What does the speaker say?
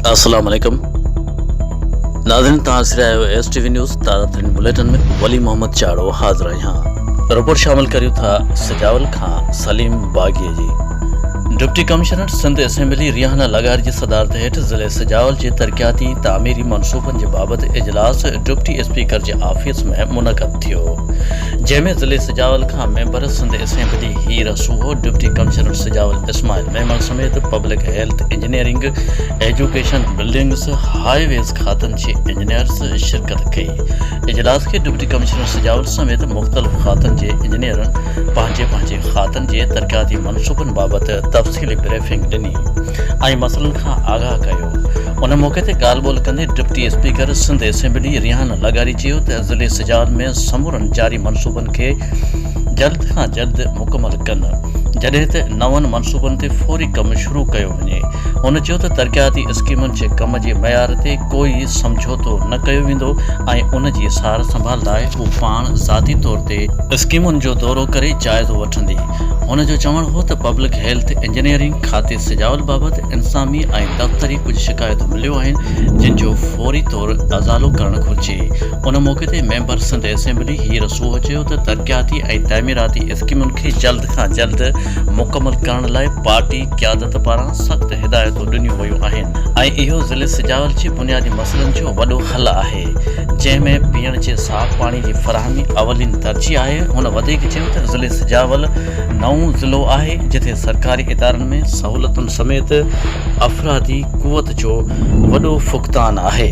السلام عليڪم ناظرين تان سري آيو ايس ٽي وي نيوز تازه ترين بليٽن ۾ ولي محمد چاڙو حاضر آهيان رپورٽ شامل ڪريو ٿا سجاول کان سليم باغي جي deputy commissioner Sindh assembly Rehana لغار جي صدارت هيٺ ضلع سجاول جي ترقياتي تعميري منصوبن جي بابت اجلاس ڊپٽي اسپيڪر جي آفيس ۾ منعقد ٿيو جنهن ۾ ضلعي سجاول کان member, Sindh assembly Heer Soho, deputy commissioner Sujawal Ismail Memon سميت public health, engineering, education, buildings, highways کاتن جي انجنيئرز شرڪت ڪئي. اجلاس کي ڊپٽي ڪمشنر سجاول سميت مختلف کاتن جي انجنيئرن پنهنجي پنهنجي کاتن جي ترقياتي منصوبن بابت تفصيلي بريفنگ ڏني ۽ مسئلن کان آگاهه ڪيو. ان موقعي تي ڳالهه ٻولهه ڪندي deputy speaker Sindh assembly Rehan لغاري چيو ته ضلعي سجاول ۾ سمورن جاري منصوبن کي جلد کان جلد مڪمل ڪن جڏهن ته نون منصوبن تي فوري ڪم شروع ڪيو وڃي هن چيو ته ترقياتي اسڪيمن جي ڪم جي معيار تي ڪوئي سمجهوتو نه ڪيو ويندو ۽ ان جي سار سنڀال لاء هو پاڻ ذاتي طور تي اسڪيمن جو دورو ڪري جائزو وٺندي. هن جو چوڻ هو ته پبلڪ هيلٿ انجنيئرنگ کاتي سجاول بابت انسامي ۽ دفتري ڪجهه شڪايتون مليو آهن جن جو فوري طور ازالو ڪرڻ گهرجي ان موقعي تي ميمبر سنڌ اسيمبلي هير سوهو چيو ته ترقياتي ۽ تعميراتي اسڪيمن کي جلد کان جلد مڪمل ڪرڻ لاء پارٽي قيادت پاران سخت هدايتون ڏنيون ويون آهن ۽ اهو ضلعي سجاول جي بنيادي مسئلن جو وڏو حل آهي. آهي، جنهن ۾ پيئڻ جي صاف پاڻي جي فراهمي اولين ترجيح آهي. هن وڌيڪ چيو ته ضلعي سجاول نئون ضلعو آهي، جتي سرڪاري ادارن ۾ سهولتن سميت افرادي قوت جو وڏو فقدان آهي.